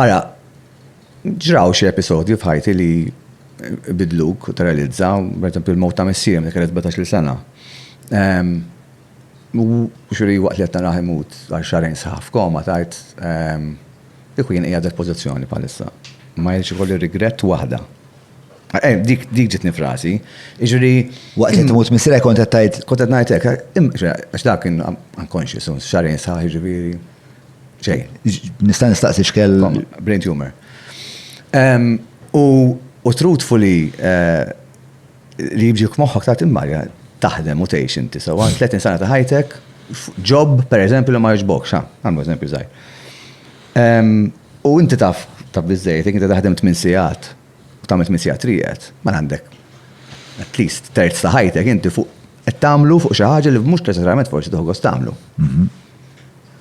Ara, ġraw xi episodji f'ħajti li bidluk u teralizza, per eżempju l-mowt ta' missierem li kellet 17-il sena. Ehm, xuri waqt li qed naraħ imut għal xarejn sħaħ f'koma tajt ehm, kieku jien qiegħed pożizzjoni bħalissa. Ma jilx ikolli rigrett waħda. Eh, dik dik ġitni frasi. Iġri. Waqt li tmut misra kont qed tajt. Kont qed ngħid hekk, għax dak kien unconscious, xarejn sħaħ ġifieri. Ġej, nista' nistaqsi xkell brain tumor. U truthfully li jibġi f'moħħok ta' timmarja taħdem u tgħix inti sewwa 30 sena ta' ħajtek, job pereżempju li ma jogħġbokx, ha, nagħmlu eżempju żgħir. U inti taf taf biżżejjed jekk inti taħdem tmien sigħat u tagħmel tmien sigħat triqed, mela għandek at least terz ta' ħajtek inti fuq Qed tagħmlu fuq xi ħaġa li mhux neċessarjament forsi toħgos tagħmlu. Mhm.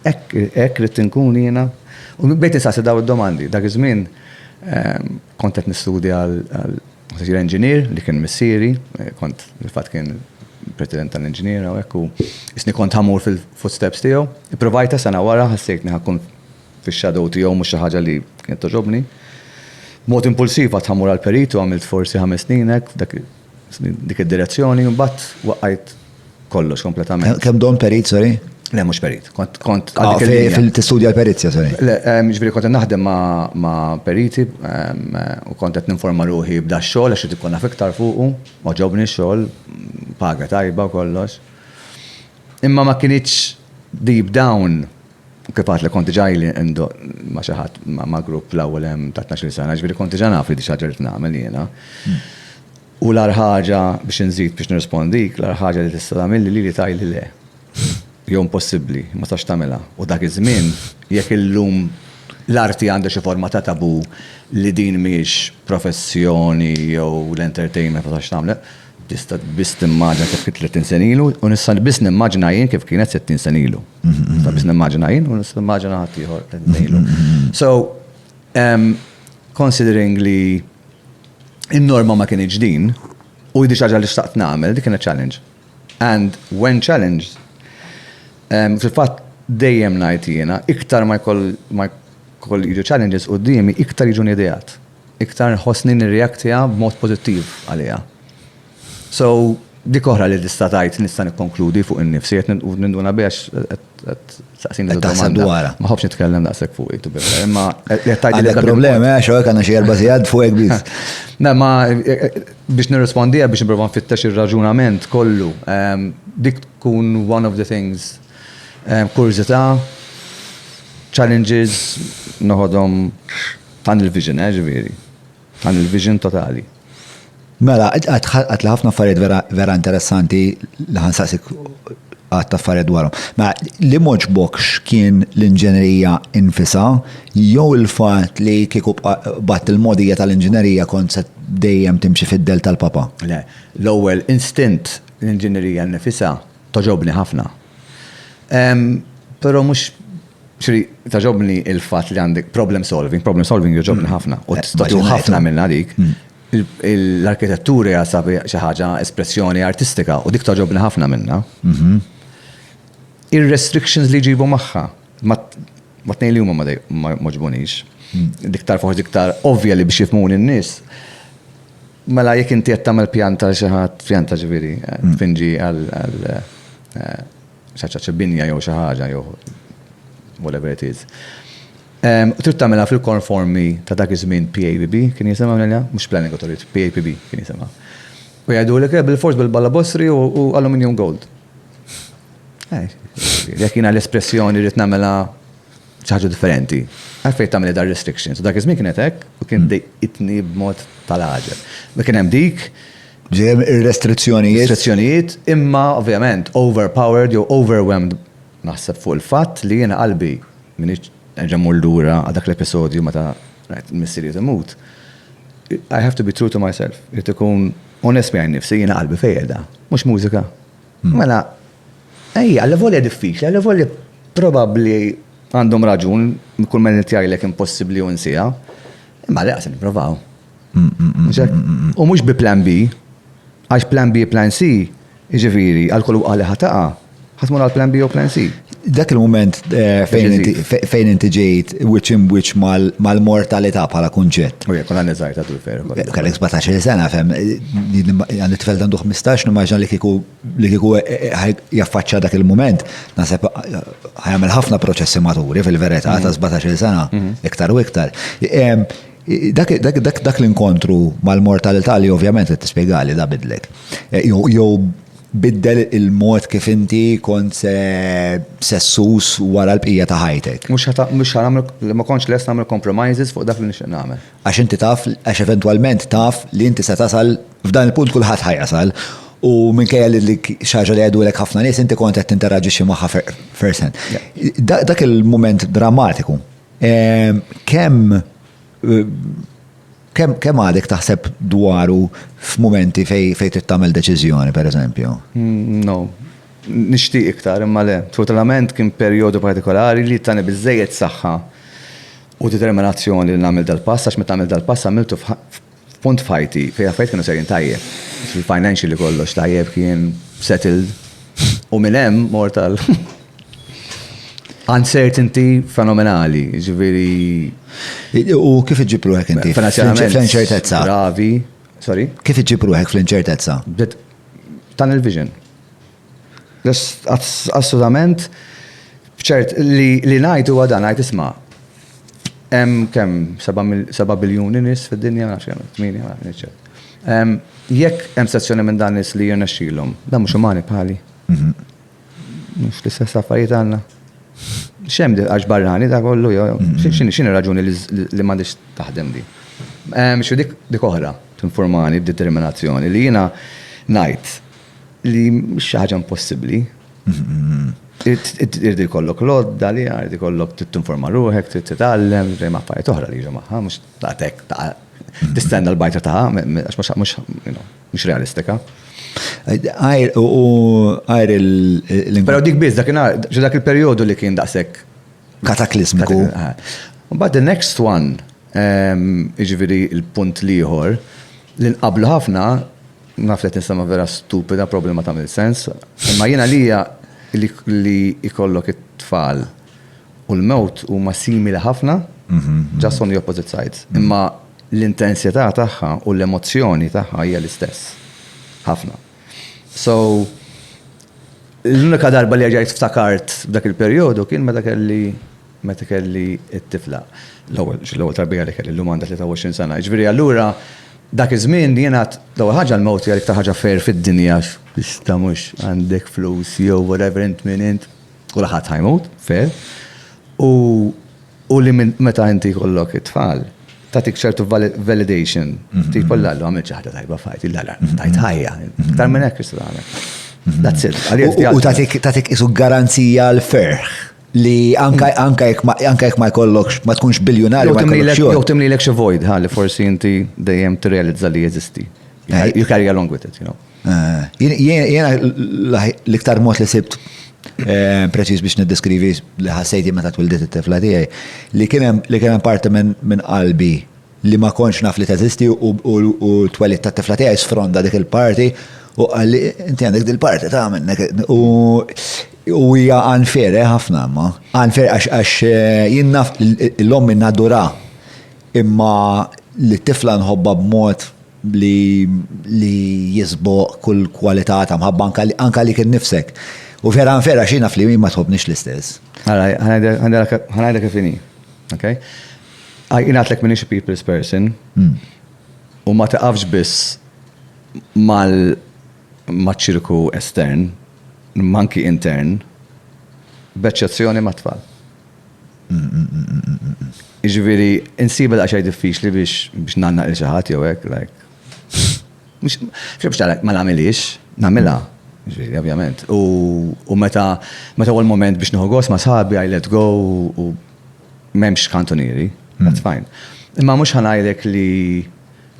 Hekk rrid inkun jiena. U bdejt insaqsi daw id-domandi. Dak iż-żmien ehm, kont qed nistudja għal sir engineer li kien missieri, eh, kont fil-fatt kien president tal-inġiniera u ekku, isni kont ħamur fil-footsteps tiegħu. Ipprovajta sena wara ħassejtni ħakun fix-shadow tiegħu mhux xi ħaġa li kienet toġobni. Mod impulsiv għat ħamur għal-peritu għamilt forsi ħames sninek, dak Dik id-direzzjoni, imbagħad waqqajt kollox kompletament. Kemm dom perit, sorry? Le, mhux perit. Kont kont ah, fil-tistudja l-perizja, sorry. Le, ehm, ġifieri kont naħdem ma' periti ehm, u kont qed ninforma ruħi b'da xogħol għax ikun naf iktar fuqu, ma ġobni xogħol, paga tajba u kollox. Imma ma kienitx deep down Kifat li kont ġaj li indoq ma xaħat ma grupp fl-ewwel hemm ta' 12 sena, ġifieri kont ġa naf li di xaġa rrid nagħmel jiena. U l-agħar ħaġa biex inżid biex nirrispondik, l-agħar ħaġa li tista' tagħmilli lili tgħidli le. Jew impossibbli, ma tistax tagħmilha. U dak iż-żmien, jekk illum l-arti għandha xi forma ta' tabù li din mhijiex professjoni jew l-entertainment ma tistax tagħmel, Tista' biss timmaġina kif kien tletin sena ilu u nista' biss nimmaġina jien kif kienet sittin sena ilu. Nista' biss nimmaġina jien u nista' nimmaġina ħaddieħor tletin sena ilu. So, considering li n-norma ma kinitx din u hi xi ħaġa li xtaqt nagħmel, dik kienet challenge. And when challenged, fil-fatt dejjem ngħid jiena, iktar ma jkoll jiġu challenges quddiemi, iktar jiġuni ideat. iktar nħossni nirreaktja b'mod pożittiv għaliha. So, dik oħra li tista' tgħid nista' nikkonkludi fuq innifsi qed ninduna biha qed saqsini Qed taħseb dwarha. Ma ħobbx nitkellem daqshekk fuq it imma qed tgħid li Għandek problemi għax hawnhekk għandna xi erba' sigħat fuq hekk biss. Le ma biex nirrispondiha biex nipprova nfittex ir-raġunament kollu, dik tkun one of the things kurżità, challenges noħodhom Tunnel vision, eh, ġifieri. Tunnel vision totali. Mela, għatli ħafna affarijiet vera interessanti li ħansaqsik għatta affarijiet dwarhom. Mela, li moġbokx kien l-inġenerija infisa, jew il-fat li kieku bat il-modija tal-inġenerija kont se dejjem timxi fid-del tal-papa? Le, l-ewwel instint l-inġenerija nifisa toġobni ħafna. Però mhux Xri, taġobni il-fat li għandek problem solving, problem solving joġobni mm. ħafna, u t-statu ħafna minna dik. Mm. L-arkitettura jasa xi ħaġa espressjoni artistika u dik taġobni ħafna minna. Mhm. Ir-restrictions li ġibu maħħa, ma t-nej li huma ma moġbunix. Mm. Diktar forsi diktar ovvja li biex jifmun in-nies. Mela jekk inti qed tagħmel pjanta xi ħadd pjanta ġifieri, eh, finġi għal eh, xaċċa xi binja jew xi ħaġa jew whatever it is. U trid tagħmilha fil-konformi ta' dak iż-żmien PABB kien jisimha minn mhux Planning Authority, PAPB kien jisimha. U jgħidu li kien bil-fors bil-balla bossri u aluminium gold. Jekk jiena l-espressjoni rrid nagħmilha ċaħġa differenti. Għalfej tamil dar restrictions. Dak iż-żmien kienet hekk u kien hmm. dejqitni b'mod tal-għaġel. Ma kien hemm dik. Ġejem ir-restrizzjonijiet. Restrizzjonijiet, imma ovvjament overpowered jew overwhelmed naħseb fuq il-fatt li jiena qalbi minn ġemmur lura għal dak l-episodju meta rajt missiri imut. I have to be true to myself. Irrid ikun onest miegħi nifsi jiena qalbi fejda, mhux mużika. Hmm. Mela Ejja, allavolja diffiċli, allavolja probabbli għandhom raġun, kull ma qed jgħidlek impossibbli u nsiha, imma le se nipprovaw. U mhux bi plan B, għax plan B, plan C, jiġifieri għal kull waqgħa li ħa taqa', ħa tmur għal plan B jew plan C. Dak il-mument fejn inti ġejt wiċċ imb'wiċċ mal-mortalità bħala kunċett. U jekk kont għandi żgħir ta' dul veru. Kellek 17-il sena, fehem, għandi tfel għandu 15, nimmaġina li kieku li kieku eh, eh, eh, jaffaċċa dak il-moment, nasib ħajamel ħafna proċessi maturi fil-verità ta' 17 mhm. sena, mhm. iktar u iktar. Dak l-inkontru mal-mortalità li ovvjament qed tispjegali da bidlek. Jew biddel il-mod kif inti kont sessus wara l-bqija ta' ħajtek. Mux ħanamlu, ma konċ les namlu compromises fuq dak li nixtieq nagħmel. Għax inti taf, għax eventwalment taf li inti se tasal, f'dan il-punt kulħadd ħa jasal. U minkejja li dik xi ħaġa li jgħidulek ħafna nies inti kont qed tinteraġixxi magħha first hand. Dak il-mument drammatiku, kemm kemm għadek taħseb dwaru f'mumenti fejn fejn trid tagħmel deċiżjoni pereżempju? Mm, no. Nixtieq iktar imma le. Totalment kien perjodu partikolari li tani biżejjed saħħa u determinazzjoni li nagħmel dal-pass għax meta għamilt dal-pass għamiltu f'punt f'ħajti fejn l-affarijiet kienu sejrin tajjeb. Financially kollox tajjeb kien settled u minn hemm mort għal uncertainty fenomenali, ġifieri. U kif iġġib ruħek inti? Finanzjarament. Fl-inċertezza. Gravi. Sorry? Kif iġġib ruħek fl-inċertezza? Tunnel vision. Assolutament. Ċert, li ngħid huwa dan, ngħid isma' hemm kemm 7 biljuni nies fid-dinja, nafx kemm, 8, ma nafx ċert. Jekk hemm sezzjoni minn dan nies li jirnexxilhom, dan mhux umani bħali. Mhux l-istess affarijiet għandna. X'hemm di għax barrani da kollu jew x'inhi r-raġuni li m'għandhiex taħdem di. Xi dik oħra tinformani b'determinazzjoni li jiena ngħid Li mhix xi ħaġa impossibbli. Irdi kollok lodda li irdi kollok tinforma ruħek, trid titgħallem, dejjem affarijiet oħra li jiġu magħha, mhux tagħtek ta' tistenna l-bajta ta' għax mhux realistika. Għajr u għajr il- Pero dik biz, dak dak il-periodu li kien daqsek. Kataklizmiku. But the next one, iġviri il-punt liħor, li nqablu ħafna, Naf li qed nistenna vera stupida, probabli ma tagħmel sens, imma jien għalija li jkollok it-tfal u l-mewt huma simili ħafna, just on the opposite sides. Imma l-intensità tagħha u l-emozzjoni tagħha hija l-istess. Ħafna. So, l-unika darba li rġajt ftakart f'dak il-perjodu kien meta kelli Meta kelli t-tifla. L-ewwel, xi l-ewwel tarbija li kelli, llum għandha 23 sena. Jiġifieri allura dak iż-żmien jien għad, l-ewwel ħaġa l-mewt hija l-iktar ħaġa fair fid-dinja għax tista' mhux għandek flus jew whatever int min int, kulħadd ħa jmut, fair. U u li minn meta inti jkollok it-tfal, tagħtik ċertu validation. Tipo l-Alla għamilt xi ħaġa tajba f'ħajti, l-Alla tajt ħajja. Iktar minn hekk x'tista' tagħmel. That's it. Għalija U tagħtik tagħtik isu garanzija l-ferħ. li anka anka jekk ma anka jekk ma jkollokx ma tkunx biljunarju Jew ma timlilek jkollokx jew xogħol. timlilek xi void ħalli forsi inti dejjem tirrealizza li jeżisti. Eh. You carry along with it, you know. Eh, jien- jien- Jiena l- l-iktar mod li sibt eh, preċiż biex niddeskrivi li ħassejti meta twildiet it-tifla tiegħi li kien hemm li kien hemm parti minn minn qalbi li ma kontx naf li teżisti u t-twelid tat-tifla tiegħi sfronda dik il-parti u qalli inti għandek din il-parti ta' minnek u hija unfair eh ħafna imma. Unfair għax jien naf lil ommi nadurha imma lit-tifla nħobbha b'mod li jisboq kull kwalità ta' mħabba anke għalik innifsek. U vera unfair għax hi naf li hi ma tħobbnix l-istess. Ara, ħa ngħidilha kif inhi, ok? Għaj, jien għatlek minix a people's person. Hmm. U ma taqafx biss mal maċ-ċirku estern, manki intern, b'eċċezzjoni ma' tfal. Iġviri, insib l-għaxaj diffiċli biex biex nanna il xaħat jew hekk, like. Mux, biex tarak, ma namilix, namila, ġviri, ovvjament. U meta, meta għol moment biex nħogos ma sabi, I let go, u M'hemmx kantunieri, that's fine. Imma mhux ħa ngħidlek li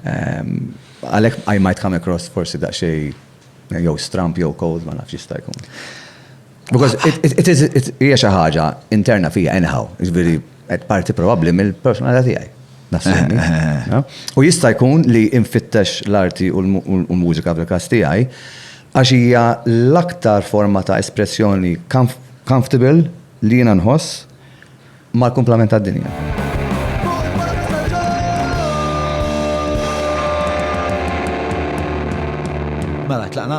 ehm, għalhekk I might come across forsi daqsxejn jew stramp jew cold ma nafx jista' jkun. Because it is hija xi ħaġa interna fija anyhow, jiġifieri qed parti probabbli mill-personalità tiegħi. Nassemmi. Eh, eh, eh. U jista' jkun li infittex l-arti u l-mużika fil-każ tiegħi għax hija l-aktar forma ta' espressjoni comfortable li jiena nħoss mal-kumplament tad-dinja. Mela, tlaqna?